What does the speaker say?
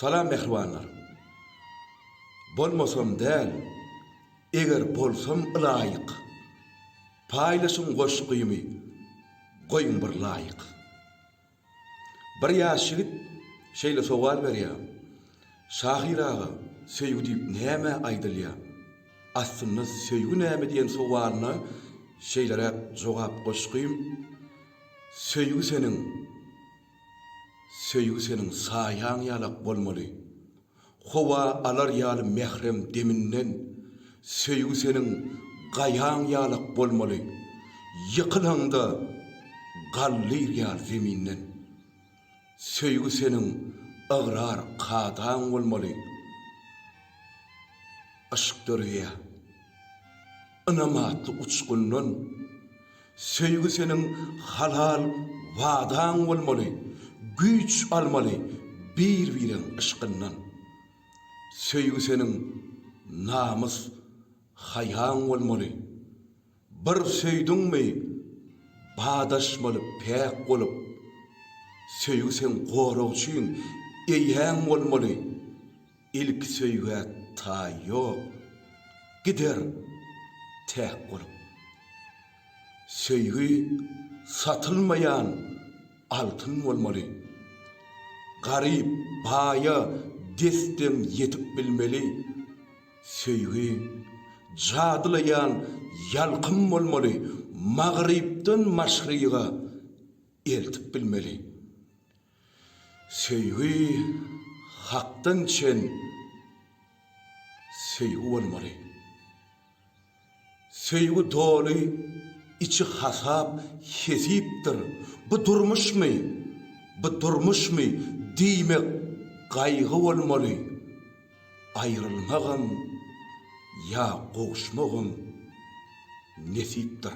Salam mähribanlar. Bolmasam däl, eger bolsam ylaýyk. Paýlaşyň goşgymy, goýuň bir laýyk. Bir ýaş ýigit şeýle sowal berýä, Şahyr aga, söýgi diýip näme aýdylýa? Aslynda söýgi näme diýen sowalyna şeýleräk jogap goşgym, Söýgi seniň Söýgi seniň saýaň ýalak bolmaly, Howa alar ýaly mährem deminden, Söýgi seniň gaýaň ýalak bolmaly, Ýykylaňda gallyr ýaly zeminden. Söýgi seniň ygrar kadaň bolmaly, Yşk dörýär. Ynam atly uçgundan. Söýgi seniň halal wadaň bolmaly, Güýç almaly bir-bireň yşkyndan. Söýgi seniň namys, haýaň bolmaly, Bir söýdüňmi, badaşmaly päk bolup. Söýgi seň goragçyň, eýäň bolmaly. Ilki söýgä taý ýok, gider täk bolup. Söýgi satylmaýan altyn bolmaly. Garyp baýa desden ýetip bilmeli. Söýgi jadylaýan ýalkym bolmaly, magrypdan maşryga eltip bilmeli. Söýgi hakdan çen söýgi bolmaly. Söýgi doly içi hasap hesipdir. Bu durmuşmy, bu durmuşmy diýmek gaýgy bolmaly. Aýrylmagam ýa gowuşmagam nesipdir.